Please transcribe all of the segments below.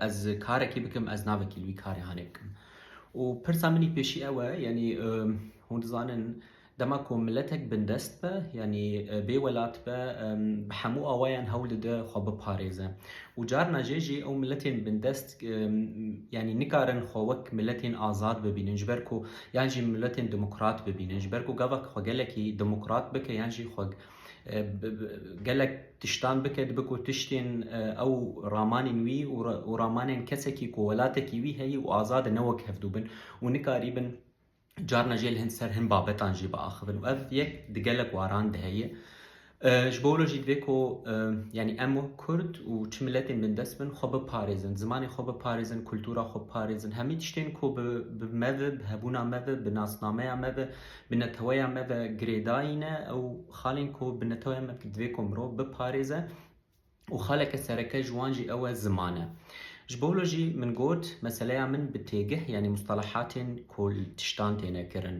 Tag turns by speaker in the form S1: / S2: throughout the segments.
S1: Ez karekî bikim, ez navekî li wî karê hanê bikim. Û pirsa min î pêşî ew e, yanî hûn dizanin dema ku miletek bindest be, yanî bê welat be, bi hemû awayan hewl dide xwe biparêze. Û carna jê jî ew miletên bindest yanî nikarin xwe wek miletên azad bibînin ji ber ku yan jî miletên demokrat bibînin. Ji ber ku gavak xwe gelekî demokrat bike yan jî xwe Gelek tiştan bike dibe ku tiştên ew ramanên wî û ramanên kesekî ku welatekî wî heye û azad e ne wek hevdû bin û nikarîbin carna jê li hin ser hin babetan jî biaxivin û ev yek di gelek waran de heye. Ji bo wilo jî divê ku yanî em wek Kurd û çi miletên bindest bin xwe biparêzin, zimanê xwe biparêzin, kultura xwe biparêzin, hemî tiştên ku bi me ve, bi hebûna me ve, bi nasnameya me ve, Bi neteweya me ve girêdayîn e ew xalên ku bi neteweya me ve divê ku mirov biparêze û xaleke sereke ji wan jî ew e ziman e. Ji bo wilo jî min got meseleya min bi têgih yanî mustalahatên ku li tiştan têne kirin.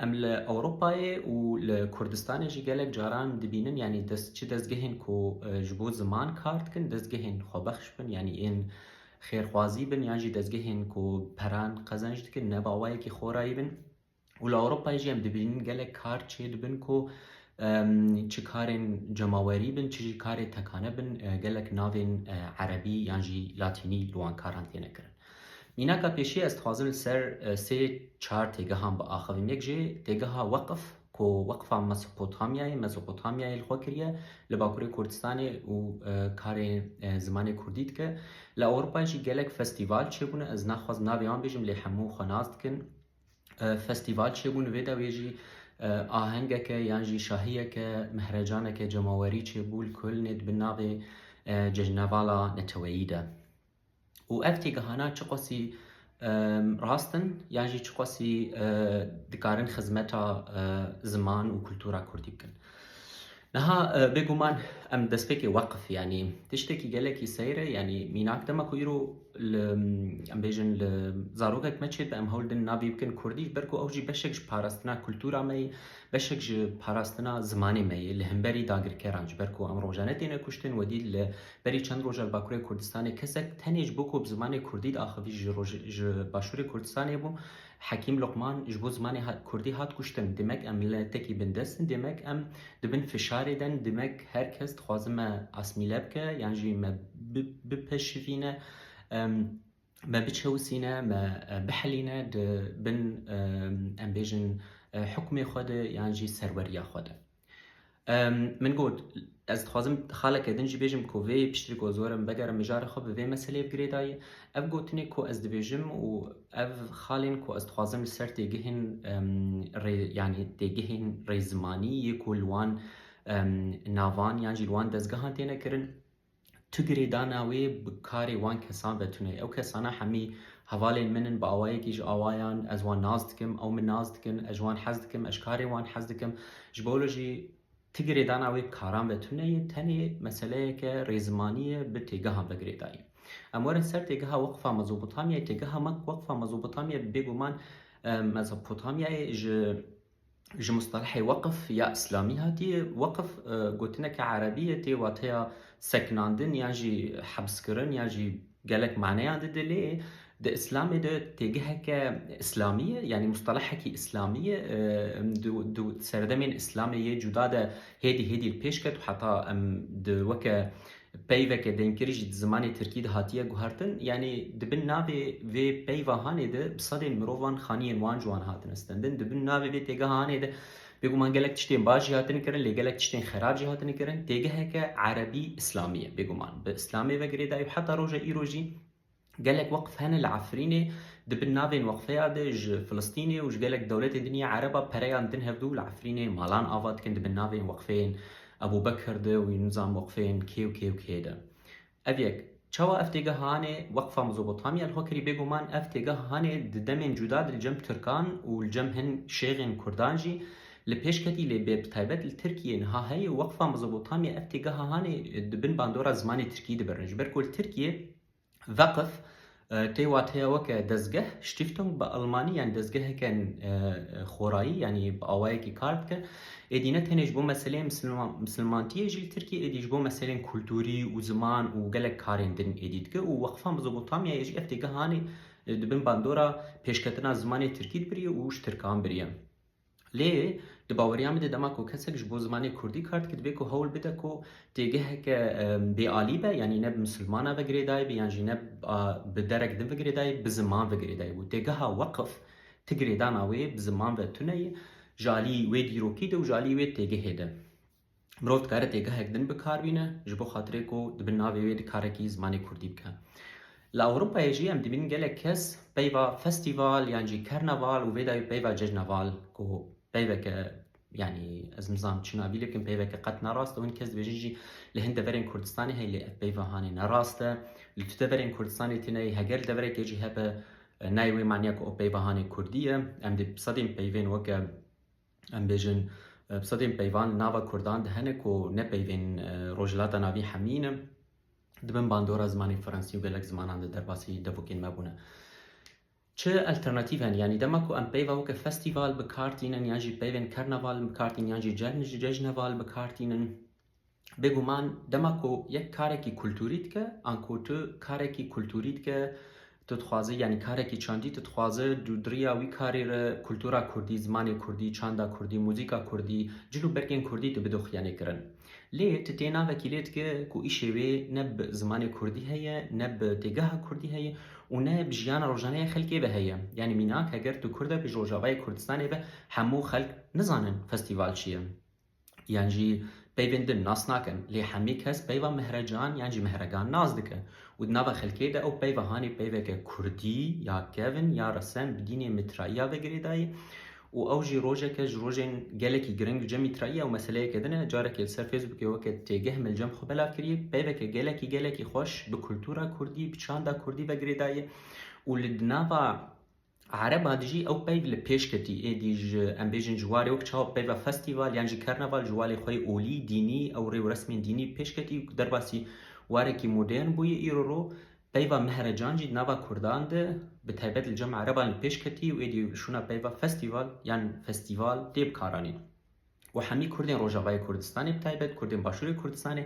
S1: Em li Ewropayê û li Kurdistanê jî gelek caran dibînin yanî çi dezgehên ku ji bo ziman kar dikin dezgehên xwebexş bin yanî ên xêrxwazî bin yan jî dezgehên ku peran qezenc dikin ne bawayekî xorayî bin û li Ewropayê jî em dibînin gelek kar çê dibin ku çi karên cemawerî bin çi jî karê tekane bin gelek navên erebî yan jî latînî li wan karan têne kirin. Mînaka pêşî ez dixwazim li ser sê çar têgehan biaxivim. Yek jê têgeha weqif ku Weqfa Mesopotamyayê, Mezopotamyayê, li xwe kiriye li Bakurê Kurdistanê û karê zimanê Kurdî dike. Li Ewropayê jî gelek festîval çêbûne, ez naxwaz navê wan bêjim lê hemû xwe nas dikin. Festîval çêbûn vê dawiyê jî ahengeke yan jî şahiyeke, mehrecaneke cemawerî çêbû li Kölnê di bin navê Cejnevala Neteweyî de. û ev têgihana çiqasî rast in yan jî çiqasî dikarin xizmeta ziman û kultura kurdî bikin. Niha bêguman em destpêkê weqif yanî tiştekî gelekî seyr e yanî mînak dema ku îro li em bêjin li zarokek me çêdibe em hewl din navê bikin kurdî ji ber ku ew jî beşek ji parastina kultura me ye beşek ji parastina zimanê me ye li hemberî dagirkeran ji ber ku em roja netêne kuştin wedî li Berî çend roja li Bakurê Kurdistanê kesek tenê ji bo ku bi zimanê Kurdî diaxivî ji roj ji Başûrê Kurdistanê bû. Hekîm Luqman ji bo zimanê Kurdî hat kuştin. Demek em miletekî bindest in, demek em di bin fişarê de in, demek her kes dixwazin me asmîle bike yan jî me bipeşivîne, me biçewisîne, me bihelîne di bin em bêjin hukmê xwe de yan jî serweriya xwe de. Min got, Ez dixwazim xaleke din jî bêjim ku vê piştî ku zor im vegerim mijarê xwe bi vê meseleyê bi girê dayê. Ev gotinê ku ez dibêjim û ev xalên ku ez dixwazim li ser têgihên rê yanî têgihên rê zimanî yê ku li wan navan yan jî li wan dezgehan têne kirin, Tu girêdana wê bi karê wan kesan ve tune. Ew kesana hemî hevalên min in, bi awayekî ji awayan ez wan nas dikim, ew min nas dikin, ez ji wan hez dikim, ez ji karê wan hez dikim. Ji bo wilo jî tu girêdana wê bi karan ve tune ye, tenê meseleyeke rêzimanî ye bi têgehan ve girêdayî. Em werin ser têgeha Weqfa Mezopotamyayê, têgeha me ku Weqfa Mezopotamyayê bêguman Mezopotamyayê ji ji mustelehê weqf ya îslamî hatiye. Weqf gotineke erebî ye tê wateya sekinandin yan jî hebskirin yan jî gelek maneyan dide lê di îslamê de têgeheke îslamî ye yanî mustelehekî îslamî ye di serdemên îslamê yê cuda de hêdî hêdî li pêş ket û heta em di weke Peyveke denkirî jî di zimanê tirkî de hatiye guhertin, yanî di bin navê vê peyva hanê de bi sedên mirovan xaniyên wan ji wan hatine stendin. Di bin navê vê têgeha hanê de bêguman gelek tiştên baş jî hatine kirin lê gelek tiştên xerab jî hatine kirin. Têgeheke erebî-îslamî ye bêguman bi îslamê ve girêdayî û heta roja îro jî, Gelek weqf hene li Efrînê, di bin navên weqfeya de ji Filistînê û ji gelek dewletên din ya Ereba pereyan din hevdu li Efrînê malan ava dikin di bin navên weqfeyên Ebûbekir de û nizam weqfeyên kê û kê û kê de. Ev yek. Çawa ev têgeh hane Weqfa Mezopotamya li xwe kirî bêguman ev têgeh hane di demên cuda de li cem Tirkan û li cem hin şêxên Kurdan jî li pêş ketî lê bê taybet li Tirkiyê niha heye û Weqfa Mezopotamya ev têgeha hane di bin bandora zimanê Tirkî dibirin ji ber ku li Tirkiyê Veqf, tê wateya weke dezgeh, Stiftung, bi almanî yanî dezgeheke xorayî yanî bi awayekî kar dike. Êdî ne tenê ji bo meseleyên misilmantiyê jî li Tirkiyê êdî ji bo meseleyên kulturî û ziman û gelek karên din êdî dike û Weqfa Mezopotamyayê jî ev têgehanê di bin bandora pêşketina zimanê Tirkî dibiriye û ji Tirkan biriye. Lê di baweriya min de dema ku kesek ji bo zimanê kurdî kar dike divê ku hewl bide ku têgeheke bêalî be yanî ne bi misilmana ve girêdayî be yan jî ne bi derek din ve girêdayî bi ziman ve girêdayî bû. Têgeha weqif ti girêdana wê bi ziman ve tune ye ji alî wê dîrokî de û ji alî wê têgehê de. Mirov dikare têgehek din bi kar bîne ji bo xatirê ku di bin navê wê di karekî zimanê Kurdî bike. Li Ewropayê jî em dibînin gelek kes peyva festîval yan jî kerneval û vê dayî peyva cejneval ku peyveke yanî ez nizanim çi navî lê bikim peyveke qet ne rast e û hin kes dibêjin jî li hin deverên Kurdistanê heye lê ev peyva hanê ne rast e. Li tu deverên Kurdistanê tê neyê heger deverekê jî hebe nayê wê maniya ku ew peyva hanê Kurdî ye. Em dê bi sedên peyvên weke Em bêjin bi sedên peyvan li nava Kurdan di hene ku ne peyvên Rojhilata Navî hemî ne. Di bin bandora zimanê Fransî û gelek zimanan de derbasî devokên me bûne. Çi alternatîv hene? Yanî dema ku em peyva weke festîval bi kar tînin yan jî peyvên karnaval bi kar tînin yan jî cejneval bi kar tînin, Bêguman dema ku yek karekî kulturî dike an ku tu karekî kulturî dike tu dixwaze yanî karekî çandî tu dixwaze du diriya wî karê re kultura kurdî, zimanê kurdî, çanda kurdî, muzîka kurdî, cil û bergên kurdî tu bido xiyanêkirin. Lê tu tê navekî lê dike ku îşê wê ne bi zimanê kurdî heye, ne bi têgeha kurdî heye û ne bi jiyana rojane ya xelkê ve heye. Yanî mînak heger tu kurd e bi ji rojavayê Kurdistanê ve hemû xelk nizanin festîval çi ye. yan jî peyvên din nas nakin lê hemî kes peyva Mehrecan yan jî Mehregan nas dike û di nava xelkê de ew peyva hanê peyveke kurdî ya kevn ya resem bi dînê mitraiya ve girêdayî û ew jî rojeke ji rojên gelekî giring ce mitraiya ew meseleyeke din e carekê li ser Facebookê weke têgeh milcem xwe belav kiriye peyveke gelekî gelekî xweş bi kultura kurdî bi çanda kurdî ve girêdayî û li di nava Arem a dijî ew peyv li pêş ketî, êdî ji em bêjin ji warê wek çawa peyva festîval yan jî kerneval ji walê xwe yê olî, dînî, ew rê û resmên dînî pêş ketî û ku derbasî warekî modern bûye îro ro peyva mehrecan jî di nava kurdan de bi taybet li cem ereban li pêş ketî û êdî şûna peyva festîval yan festîval tê bikaranîn. û hemî kurdên rojavayê Kurdistanê bi taybet kurdên başûrê Kurdistanê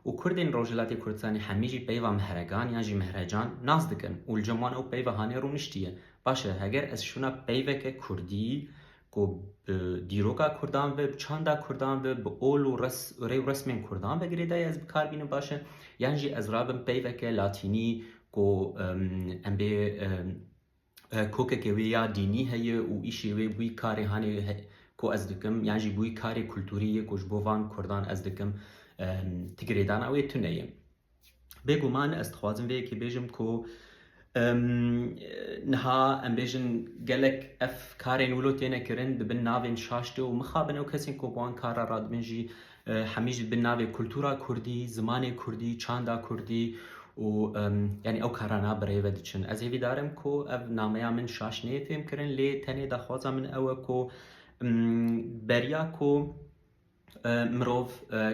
S1: û kurdên rojhilatê Kurdistanê hemî jî peyva mehregan yan jî mehrecan nas dikin û li cem wan ew peyva hanê rûniştî ye. Baş e heger ez şûna peyveke kurdî ku bi dîroka kurdan ve, bi çanda kurdan ve, bi ol û res rê û resmên kurdan ve girêdayî ez bi kar bînim baş e yan jî ez rabim peyveke latînî ku em bê Kokeke wê ya dînî heye û îşê wê bûyî karê hanê ku ez dikim yan jî bûyî karê kulturî yê ku ji bo van kurdan ez dikim ti girêdana wê tune ye. Bêguman ez dixwazim vê yekê bêjim ku niha em bêjin gelek ev karên wilo têne kirin dibin navên şaş de û mixabin ew kesên ku bi wan kar re radibin jî Hemî jî bi navê kultura kurdî, zimanê kurdî, çanda kurdî û yanî ew karan a bi rê ve diçin. Ez hêvî dar im ku ev nameya min şaş neyê fêm kirin lê tenê daxwaza min ew e ku beriya ku mirov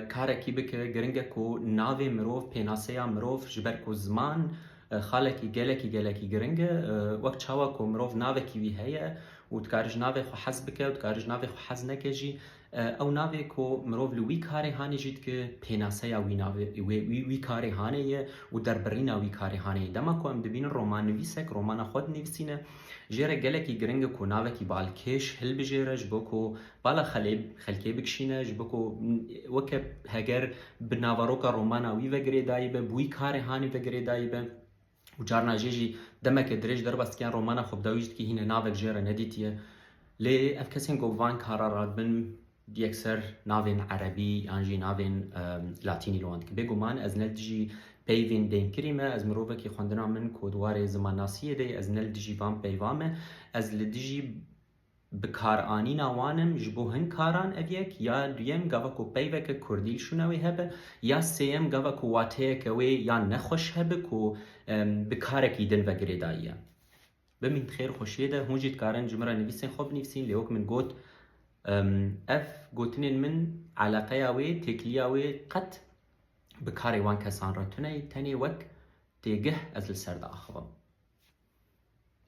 S1: karekî bike giring e ku navê mirov, pênaseya mirov ji ber ku ziman xalekî gelekî gelekî giring e. Wek çawa ku mirov navekî wî heye û dikare ji navê xwe hez bike û dikare ji navê xwe hez neke jî Ew navê ku mirov li wî karê hanê jî dike, pênaseya wî navê wî wî karê hanê ye û derbirîna wî karê hanê ye. Dema ku em dibînin romannivîsek romana xwe dinivîsîne, jê re gelekî giring e ku navekî balkêş hilbijêre ji bo ku bala xelê xelkê bikişîne, ji bo ku weke heger bi naveroka romana wî ve girêdayî be, bi wî karê hanê ve girêdayî be. û carna jê jî demeke dirêj derbas dikiyan romana xwe bi dawî jî dikî hîne navek jê re nedîtiye. Lê ev kesên ku van kara radibin yekser navên erebî yan jî navên latînî li wan dikin. Bêguman ez ne li dijî peyvên dênkirî me, ez mirovekî xwendina min ku di warê zimannasiyê de ye, ez ne li dijî van peyva me, ez li dijî Bikaranîna wan in ji bo hin karan ev yek ya duyem gava ku peyveke kurdî li şûna wê hebe ya sêyem gava ku wateyeke wê ya nexweş hebe ku bi karekî din ve girêdayiye. Bimîn di xêr û xweşiyê de. Hûn jî dikarin ji min re nivîsên xwe binivîsîn lê wek min got ev gotinên min eleqeya wê, têkiliya wê qet bi karê wan kesan re tune ye tenê wek têgeh ez li ser diaxivim.